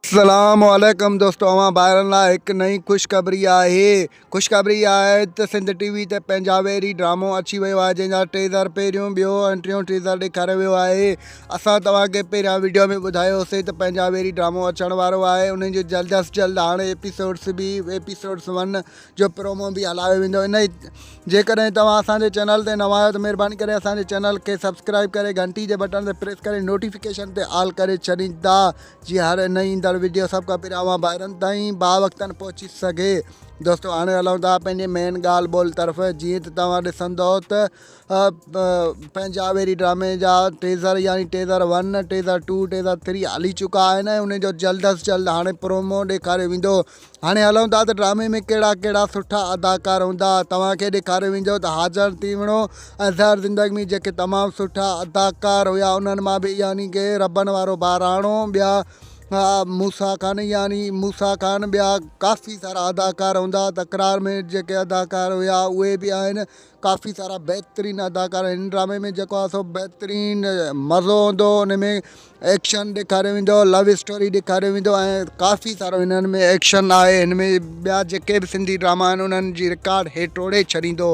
اسلام عليڪم دوستو اوهان ڀائرن لاء هڪ نئين خوشخبري آهي خوشخبري اها آهي ته سنڌ ٽي وي تي پنهنجا ويري ڊرامو اچي ويو آهي جنهن جا ٽيزر پهريون ٻيو ۽ ٽيون ٽيزر ڏيکاريو ويو آهي اسان توهان کي پهريان ويڊيو ۾ ٻڌايو سي ته پنهنجا ويري ڊرامو اچڻ وارو آهي انهن جو جلد از جلد هاڻي ايپيسوڊس به ايپيسوڊس ون جو پرومو به هلايو ويندو ان جيڪڏهن توهان اسان جي چينل تي نوان آهيو ته مهرباني ڪري اسان جي چينل کي سبسڪرائب ڪري گهنٽي جي بٽڻ تي پريس ڪري نوٽيفڪيشن تي آل ڪري ڇڏيندا جي هاڻي نه ايندڙ وڊيو سڀ کان پهريان اوهان ڀائرن تائين با وقتن پهچي سگهي دوستو هاڻي هلون ٿا پنهنجي مين ڳالهه ٻولهه طرف جيئن ته توهان ڏسندو ته پنهنجا ويري ڊرامي جا ٽيزر يعني teaser one teaser two teaser three هلي چڪا آهن ۽ ان جو جلد از جلد هاڻي پرومو ڏيکاريو ويندو هاڻي هلون ٿا ته ڊرامي ۾ ڪهڙا ڪهڙا سٺا اداڪار هوندا. توهان کي ڏيکاريو ويندو ته حاجڻ تيوڻو ۽ زهر زندگي ۾ جيڪي تمام سٺا اداڪار هيا انهن مان به يعني ڪي ربن وارو ٻهراڻو ٻيا موسيٰ خان يعني موسيٰ خان ٻيا ڪافي سارا اداڪار هوندا تڪرار ۾ جيڪي اداڪار هيا اهي به آهن ڪافي سارا بهترين اداڪار هن ڊرامي ۾ جيڪو آ سو بهترين مزو هوندو ان ۾ ايڪشن ڏيکاريو ويندو لو اسٽوري ڏيکاريو ويندو ۽ ڪافي سارو هنن ۾ ايڪشن آهي هن ۾ ٻيا جيڪي به سنڌي ڊراما آهن انهن جي رڪارڊ هي ٽوڙي ڇڏيندو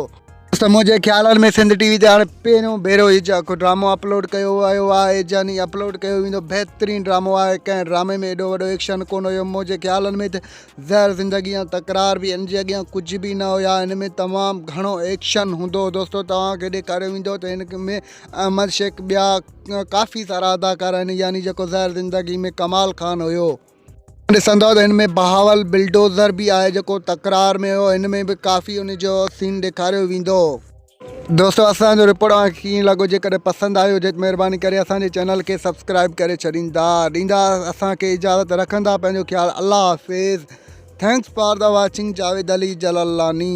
ته منهنجي خيالن ۾ سنڌ ٽي وي تي هاڻي پهريون ڀيرو هي جيڪو ڊرامو اپلوڊ ڪيو ويو آهي جاني اپلوڊ ڪيو ويندو بهترين ڊرامو آهي ڪنهن ڊرامي ۾ ايڏو وڏو ايڪشن ڪون هيو منهنجي خيالن ۾ ته زهر زندگي ۽ تڪرار به ان جي اڳيان ڪجهه به نه هيا ان ۾ تمام گهڻو ايڪشن هوندو هو دوستو توهان کي ڏيکاريو ويندو ته هن ۾ احمد شيخ ٻيا ڪافي سارا اداڪار آهن يعني جيڪو زهر زندگي ۾ ڪمال خان هيو ڏسندو ته هن ۾ بهاول بلڊوزر به آهي جيڪو تڪرار ۾ هيو هن ۾ به ڪافي ان جو سين ڏيکاريو ويندو هو. دوستو اسان جو رپورٽ اوهان کي ڪيئن لڳو جيڪڏهن پسند آيو هجي ته مهرباني ڪري اسان جي چينل کي سبسڪرائب ڪري ڇڏيندا ڏيندا اسان کي اجازت رکندا پنهنجو خيال الله حافظ thanks for the watching Javed Ali Jalalani